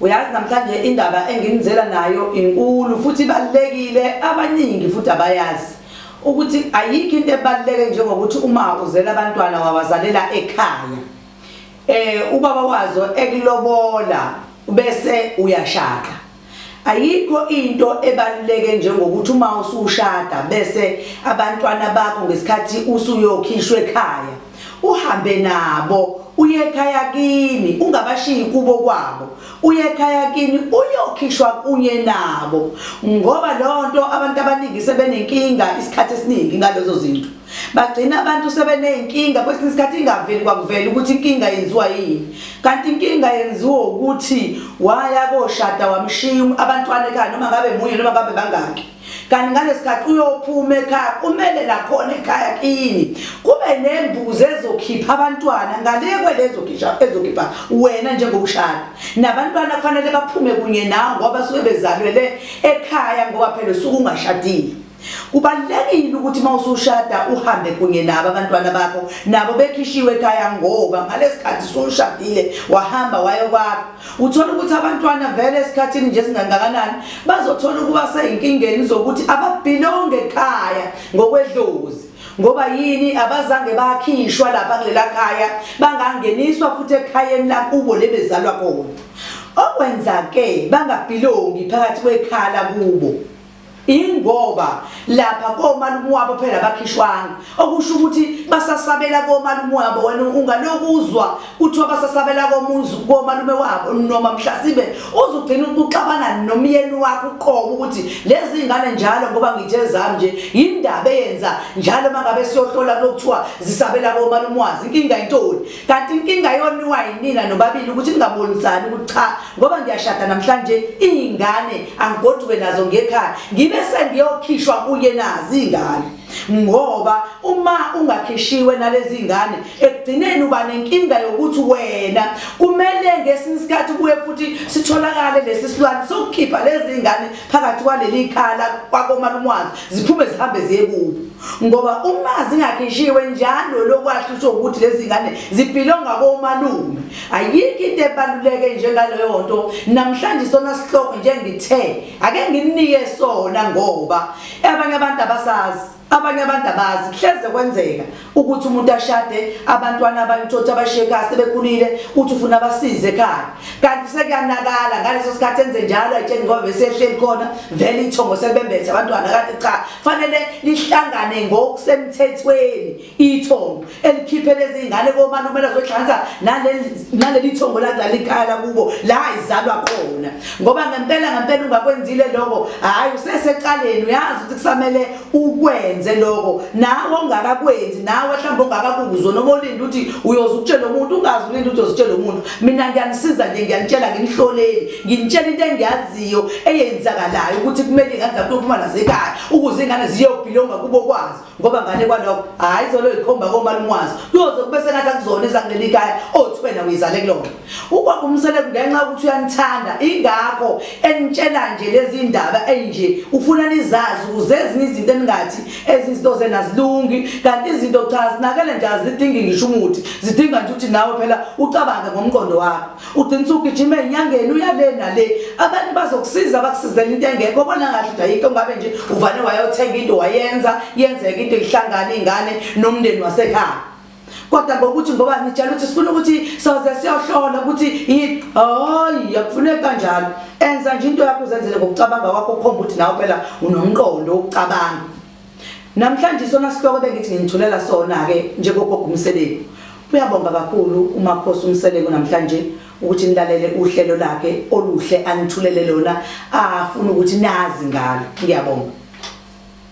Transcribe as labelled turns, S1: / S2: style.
S1: uyazi namhlanje indaba enginizela nayo inkulu futhi ibalulekile abaningi futhi abayazi ukuthi ayikho into ebaluleke njengokuthi uma uzela abantwana wawazalela ekhaya eh ubaba wazo ekulobola bese uyashaka ayikho into ebaluleke njengokuthi uma usushada bese abantwana bakho ngesikhathi usuyokhishwa ekhaya uhambe nabo uyekhaya kini ungabashiyi kubo kwabo uyekhaya kini uyokhishwa kunye nabo ngoba lonto abantu abaningi sebenenkinga isikhathi esiningi ngalezo zinto bagcina abantu sebeneyinkinga kwesinye isikhathi ingaveli kwakuvela ukuthi inkinga yenziwa yini kanti inkinga yenziwa ukuthi waya koshada wamshiya abantwana ekhaya noma ngabe munye noma ngabe bangaki kanti ngalesikhathi uyophuma ekhaya kumele lakhona ekhaya kini kube nembuzi ezokhipha abantwana ngale kwelezokhipha ezokhipha wena njengokushada nabantwana kufanele baphume kunye nawe ngoba suke bezalwele ekhaya ngoba phela usuke ungashadile kubalulekile ukuthi uma usushada uhambe kunye nabo abantwana bakho nabo bekhishiwe ekhaya ngoba ngalesikhathi usushadile wahamba wayokwakho Uthola ukuthi abantwana vele esikhathini nje singangakanani bazothola ukuba seyinkingeni zokuthi ababhilonge ekhaya ngokwedlozi ngoba yini abazange bakhishwa lapha kulela khaya bangangeniswa futhi ekhayeni lakubo lebezalwa kona okwenzake bangabhilongi phakathi kwekhala kubo ingoba lapha komalume wabo phela bakhishwanga okusho ukuthi basasabela komalume wabo wena ungalokuzwa kuthiwa basasabela komuzi komalume wabo noma mhlasibe uzugcina ukuxabana nomyeni wakho uqobo ukuthi lezi ngane njalo ngoba ngithe zami nje indaba eyenza njalo mangabe siyohlola lokuthiwa zisabela komalume wazi inkinga intoni kanti inkinga yoniwa yinina nobabili ukuthi ningabonisani ukuthi cha ngoba ngiyashada namhlanje iy'ngane angigoduke nazo ngekhaya ngibe sengiyokhishwa kuye nazi iy'ngane ngoba uma ungakhishiwe nalezi ngane ekugcineni uba nenkinga yokuthi wena kumele ngesinye isikhathi kuye futhi sitholakale lesi silwane sokukhipha lezi ngane phakathi kwaleli khala kwakomalumwazi ziphume zihambe ziye kubo ngoba uma zingakhishiwe njalo lokwasho usho ukuthi lezi zingane zibhilonga komalume ayikho into ebaluleke njengaleyo nto namhlanje sona sihloko njengithe ake nginike sona ngoba abanye abantu abasazi abanye abantu abazi kuhleze kwenzeka ukuthi umuntu ashade abantwana abantotha abasheka sebekhulile uthi ufuna abasize ekhaya kanti sekuyanakala ngaleso sikhathi enze njalo ayitsheni ngoba besehleli khona vele ithongo sekubembethe abantwana kanti cha fanele lihlangane ngokusemthethweni ithongo elikhiphe lezi ngane komani umele zohlanganisa naleli thongo ladlala ikhaya lakubo la izalwa khona ngoba ngempela ngempela ungakwenzile lokho hhayi usesecaleni uyazi ukuthi kusamele ukwenze lokho nawe ongakakwenzi nawe mhlawumbe ongakakuzwa noma olinde ukuthi uyoze ukutshela umuntu ungazi ulinde ukuthi uzitshela umuntu mina ngiyanisiza nje ngiyanitshela nginihloleli ngintshela into engiyaziyo eyenzakalayo ukuthi kumele ingane zakho uyophuma nazo ekhaya ukuze ingane ziyobhilonga kubo kwazo ngoba ngane kwalokho hhayi zolo yikhomba komalume wazo kuyoze kube sengathi akuzona ezakuleli khaya othi wena uyizale kulona ukwakho umseleku ngenxa yokuthi uyanithanda ingakho enitshela nje lezi ndaba eyinje ufuna nizazi ukuze ezinye izinto eningathi ezinye izinto zenazilungi kanti izinto cha zinakele nje azidingi ngisho umuthi zidinga nje ukuthi nawe phela ucabange ngomqondo wakho ugcina usugijima enyangeni uyale nale abantu bazokusiza bakusizela into engekho bona ngathi nje ayikho ngabe nje uvane wayothenga into wayenza yenzeka into ihlangana ingane nomndeni wasekhaya kodwa ngokuthi ngoba ngitshela ukuthi sifuna ukuthi soze siyohlola ukuthi yini hayi akufuneki kanjalo enza nje into yakho uzenzele ngokucabanga kwakho ukhomba ukuthi nawe phela unomqondo wokucabanga Namhlanje isona sihloko bengithi nginithulela sona ke njengogogo umseleko. Uyabonga kakhulu umakhosi umseleko namhlanje ukuthi nilalele uhlelo lakhe oluhle anithulele lona afuna ukuthi nazi ngalo. Ngiyabonga.